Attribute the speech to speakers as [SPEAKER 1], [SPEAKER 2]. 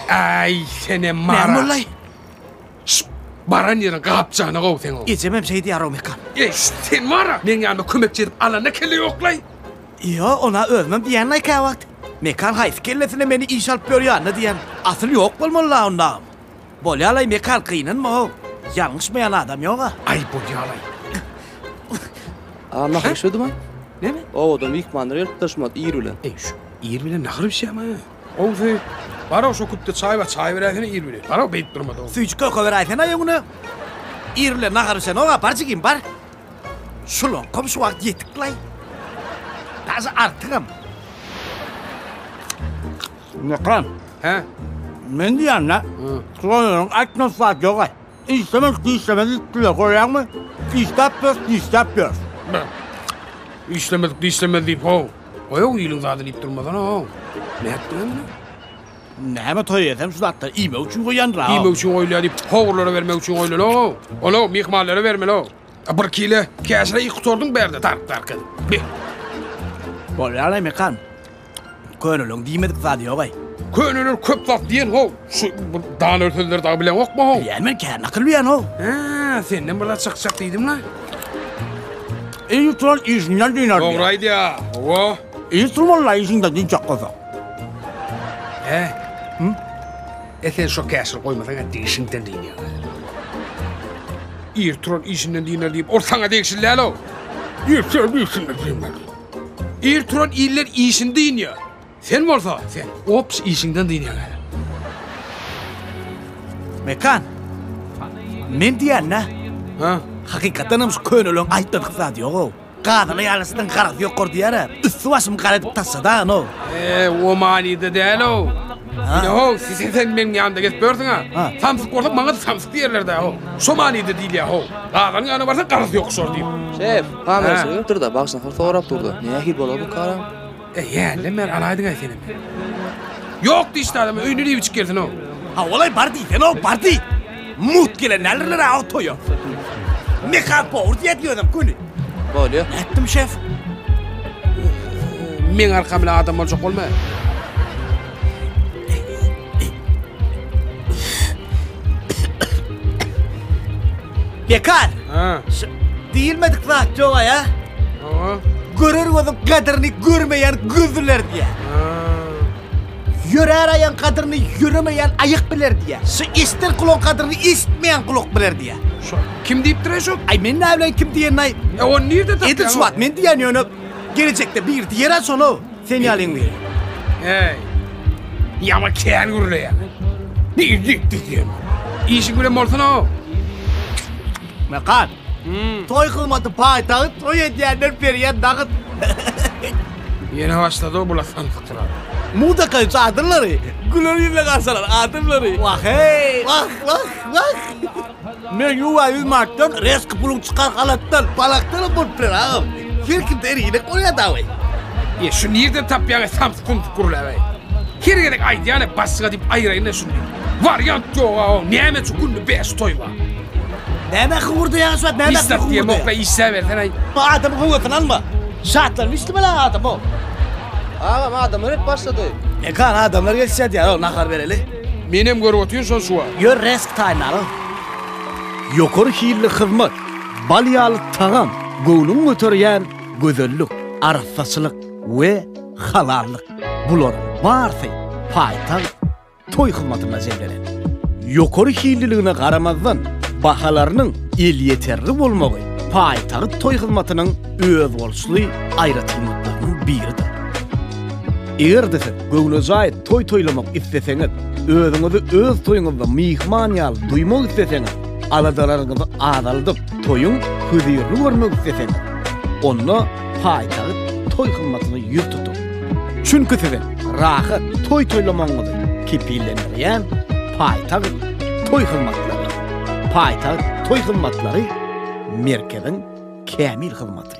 [SPEAKER 1] Ay sene mara. Näme bolay?
[SPEAKER 2] Şş,
[SPEAKER 1] Baran yerin kapçana kov sen o. Ejemem şey diýär o mekan.
[SPEAKER 2] Ey şş, sen mara.
[SPEAKER 1] Men yanıma kömekçi edip alana kelle yoklay. Yo, ona
[SPEAKER 2] özümem diýen ay käwagt. Mekan haýsy kellesine meni iş alyp ýörýänini diýen. Asyl ýok bolmaly la onda. Bolýalaý Mekal gynanma-ow. Ýalňyşmaýan adam ýog-a. Aý bolýalaý.
[SPEAKER 1] A
[SPEAKER 3] nahyr şudymy? Näme? Owadan
[SPEAKER 1] myhmanlar gelip
[SPEAKER 3] daşymaz ir bilen. Eý şu ir bilen
[SPEAKER 1] nahyr bişýämi? Gowusy, bar-ow şo küpde çaý bar, çaý beräýsene ir bilen. Bar-ow beýdip durma-da. Süýji köke beräýsene-ow öňüne.
[SPEAKER 2] Ir bilen nahar bişenok-a, bar jigim, bar. Şulaňkam şu wagt ýetik-laý. Daže artygam. Mukran. Hä?
[SPEAKER 1] Men diýýän-dä,
[SPEAKER 2] şolaryň aýtmadyk zat ýog-aý. Işlemez, dişlemez diýipdirler, görýäňmi? Dişläp ýörüs, dişläp ýörüs. Beh.
[SPEAKER 1] Işlemedik, dişlemez diýip, how. Goýaw iliň zady diýip durmasana, how. Nätdiňem ine? Näme
[SPEAKER 2] toý etsem şu zatlary iýmek üçin goýýandyr-a, how. Iýmek üçin goýulýar diýip,
[SPEAKER 1] howurlara bermek üçin goýlaly, how. Ol-ow, myhmanlara bermeli, how. A bir kile käşire iý gutardyň bärde, dark-dark edip. Beh.
[SPEAKER 2] Bolýar-aý, Mukran. Köneleň diýmedik zady ýogaý. Köneler köp zat
[SPEAKER 1] diýen how, şu bir daner sözleri dagy bileňokmy how? Bilýän men kän nakyl bilýän
[SPEAKER 2] how. Hä, senden
[SPEAKER 1] bir zat çykjak diýdimlä.
[SPEAKER 2] Iň turan işinden dynar diýýär. Dogry aýdýa, howa.
[SPEAKER 1] Iň turmalylar
[SPEAKER 2] işiňden dynjak bolsaň.
[SPEAKER 1] Hä? Hü? E sen şo käşir goýmasaň etdi işiňden dynyar. Ir turan işinden dynar diýip ol saňa degişli däl how. Ir turan işinden dynar. Ir turan iller işini dynýar. Sen bolsa, sen ops işiňden dynýaň hälä.
[SPEAKER 2] Mekan. Men diýende. Ha?
[SPEAKER 1] Hakykatdan hem şu
[SPEAKER 2] köneleriň aýtmadyk zady ýog-ow. Gazyny ýalysynyň garasy ýokar diýer-ä. Üsti başymy gara edip taşladagan ol. E, o
[SPEAKER 1] manyda däl-ow. Ýa-ow, siz sen meniň ýanymda gezip ýörsiň-ä. Samsyk bolsa maňa-da samsyk diýerler-dä-ow. Şo manyda diýilýär-ow. Gazynyň ýanyna barsaň garasy ýokuşar diýip. Şef. Kamerasy
[SPEAKER 3] gelipdir-de, bagşynyňky sorap dur-da, nähili bolar bu karam? E, ýälle men
[SPEAKER 1] alaýdyň-aý senem. Ýok diýişdi adam, öýüne diýbiçik gelsin-ow. Hawa-laý, bar
[SPEAKER 2] diýsene-ow, bar diý! Mugt gelen däldirler-ä o toýa. Mekap bor diýýärdi özem göni. Bolýa. Nätdim,
[SPEAKER 3] şef?
[SPEAKER 1] Meň arkam bilen adam boljak bolma.
[SPEAKER 2] Bekar. Şu
[SPEAKER 1] diýilmedik
[SPEAKER 2] zat ýog-a ýa. Hawa. Görer gözüň gadyryny görmeýän gözler diýýär. Ýörer aýagyň gadyryny ýöremeýän aýak biler diýýär. Şu eşder gulagyň gadyryny eşitmeýän gulak biler diýýär. Şo kim diýipdir-ä
[SPEAKER 1] şo? Aý men näbileýin kim
[SPEAKER 2] diýenini-aý. E ony nirde tapýaň? Edil
[SPEAKER 1] şu wagt men diýýän ýöne
[SPEAKER 2] gelejekde biri diýer-ä şony. Sen ýalyň biri. Heý.
[SPEAKER 1] Ýama kän gürleýär. Nir gitdi sen? Işiň bilen bolsana-ow. Mekan.
[SPEAKER 2] Toý kylmaty paýtagyt, toý edýänler berýän dagyt.
[SPEAKER 1] Ýene başlady-ow bu lasanlykdyr-a. Muzykanyň
[SPEAKER 2] çadyrlary, güler ýüzle garşylar adamlary. Wah-heý, wah, wah, wah. Men ýuwa ýüz manatdan reski puluň çykar halatdan balakdan bolup biler agam. Her kimde her hili bolýar dawaý. E şu
[SPEAKER 1] nirden tapýaňa samsyk gumsyk gürläbäý. Her gezek aýdýana başga diýip aýraýynda şuny. Wariant ýok agam näme şu günde bäş toý bar. Näme
[SPEAKER 2] hyňyrdaýaň şu wagt näme hyňyrdaýaň. Işläp diýem okla
[SPEAKER 1] işläbersen aý. Bu adamyň höwesini alma.
[SPEAKER 2] Şatlan işlemeli adam o. Agam
[SPEAKER 3] adamlar hep başlady. Mekan adamlar
[SPEAKER 2] gelişýär diýýär o nahar bereli. Menem görüp otyryn
[SPEAKER 1] şony şu wagt. Ýör resk taýyn
[SPEAKER 2] alyň. Ýokary hilli hyzmat, bal ýaly tagam, göwnüňi göterýän gözellik, arassaçylyk we halallyk, bularyň barsy paýtagt toý hyzmatynda jemlenen. Ýokary hilliligine garamazdan, bahalarynyň elýeterli bolmagy paýtagt toý hyzmatynyň özboluşly aýratynlyklarynyň biridir. Eger-de siz göwnejaý Toý toýlamak isleseňiz, özüňizi öz toýuňyzda myhman ýaly duýmak isleseňiz, aladalaryňyzy azaldyp, toýuň hüzirli görmek isleseňiz, onda paýtagt toý hyzmatyna ýüz tutuň. Çünki siziň rahat toý toýlamagyňyzy kepillendirýän paýtagt toý hyzmatlarydyr. Paýtagt toý hyzmatlary merkeziň kämil hyzmaty.